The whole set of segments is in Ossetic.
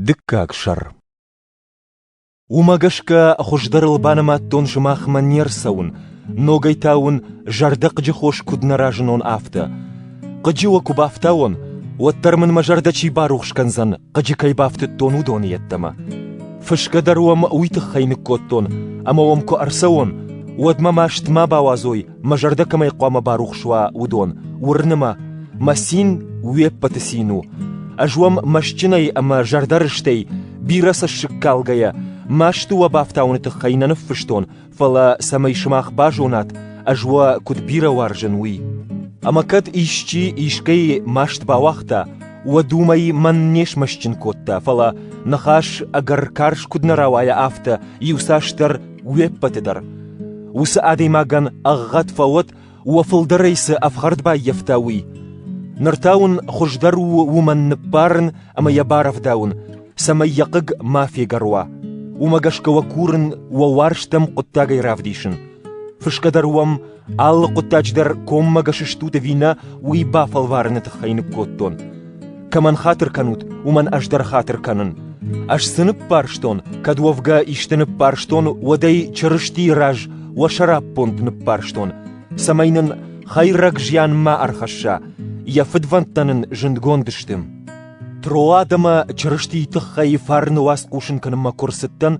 Дыккаг сӕр Уымӕ гӕсгӕ хуыздӕрыл банымадтон сымахмӕ не рцӕуын, ногӕй та уын зӕрдӕхъыджы хос куыд нӕ разынон, афтӕ. Хъыджы уӕ куы бафтауон, уӕддӕр мын мӕ зӕрдӕ чи барухс кӕндзӕн, хъыджы кӕй бафтыдтон, уыдоны йеддӕмӕ. Фысгӕ дӕр уӕм уый тыххӕй ныккодтон, ӕмӕ уӕм куы ӕрцӕуон, уӕд мӕ маст ма бауадзой мӕ зӕрдӕ кӕмӕй хъуамӕ барухс уа, уыдон, уырны мӕ, мӕ цин уе ппӕты цин у. Ӕз уӕм мӕстджынӕй ӕмӕ зӕрдӕрыстӕй, бирӕ цӕссыг калгӕйӕ, масты уӕ бафтауыны тыххӕй нӕ ныффыстон, фӕлӕ, цӕмӕй сымах базонат, ӕз уӕ куыд бирӕ уарзын, уый. Ӕмӕ кӕд исчи искӕй маст бауагъта, уӕд уымӕй мӕн не смӕстджын кодта, фӕлӕ, ныхас ӕгӕр карз куыд нӕ рауайа, афтӕ иуцасдӕр Уе ппӕты дӕр. Уыцы адӕймагӕн ӕгъгъӕд фӕуӕд, уӕ фылдӕрӕй цы ӕфхӕрд баййӕфта, уый. Ныр та уын хуыздӕр у уымӕн ныббарын ӕмӕ йӕ барӕвдауын, цӕмӕй йӕ хъыг ма фегӕр уа. Уымӕ гӕсгӕ уӕ курын уӕ уарзтӕм хъуыддагӕй равдисын. Фысгӕ дӕр уӕм Алы хъуыддаджы дӕр коммӕгӕс стут ӕви нӕ, уый бафӕлварыны тыххӕй ныккодтон. Кӕмӕн хатыр кӕнут, уымӕн ӕз дӕр хатыр кӕнын. Ӕз цы ныббарстон, кӕд уӕвгӕ исты ныббарстон, уӕд ӕй Чырыстийы раз уӕ сӕраппонд ныббарстон, цӕмӕй нын хӕйрӕг зиан ма ӕрхӕсса, йӕ фыдвӕндтӕ нын зындгонд сты. Троад ӕмӕ Чырыстийы тыххӕй фарны уац хъусын кӕнынмӕ куы рцыдтӕн,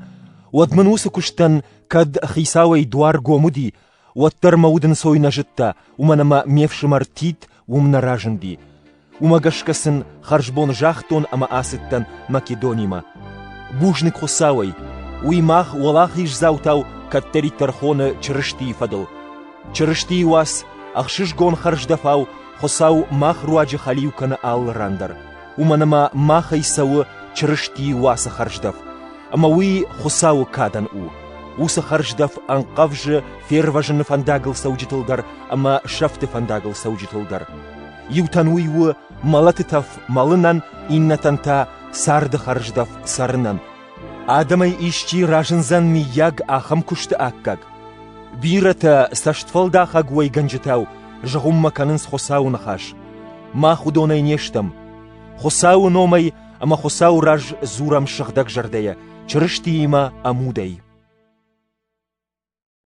уӕд мын уыцы куыстӕн, кӕд хицауӕй дуар гом уыди, Уӕддӕр мӕ удӕнцой нӕ зыдта, уымӕн ӕмӕ ме фсымӕр Тит уым нӕ разынди. Уымӕ гӕсгӕ сын хӕрзбон загътон ӕмӕ ацыдтӕн Македонимӕ. Бузныг Хуыцауӕй, уый мах уӕлахиздзаутау кӕддӕриддӕр хоны Чырыстийы фӕдыл. Чырыстийы уац ӕхсызгон хӕрздӕфау Хуыцау мах руаджы хӕлиу кӕны алы ран дӕр. уымӕн ӕмӕ махӕй цӕуы Чырысти уацы хӕрздӕф, ӕмӕ уый Хуыцауы кадӕн у. Уыцы хӕрздӕф ӕнхъӕвзы фервӕзыны фӕндагыл цӕуджытыл дӕр ӕмӕ сӕфты фӕндагыл цӕуджытыл дӕр. Иутӕн уый у мӕлӕты тӕф мӕлынӕн, иннӕтӕн та царды хӕрздӕф цӕрынӕн. Адӕмӕй исчи разындзӕн миййаг ахӕм куысты аккаг? Бирӕтӕ цӕстфӕлдахӕг уӕйгӕнджытау зыгъуыммӕ кӕнынц Хуыцауы ныхас. мах уыдонӕй не стӕм. Хуыцауы номӕй ӕмӕ Хуыцауы раз дзурӕм сыгъдӕг зӕрдӕйӕ, Чырыстиимӕ ӕмудӕй.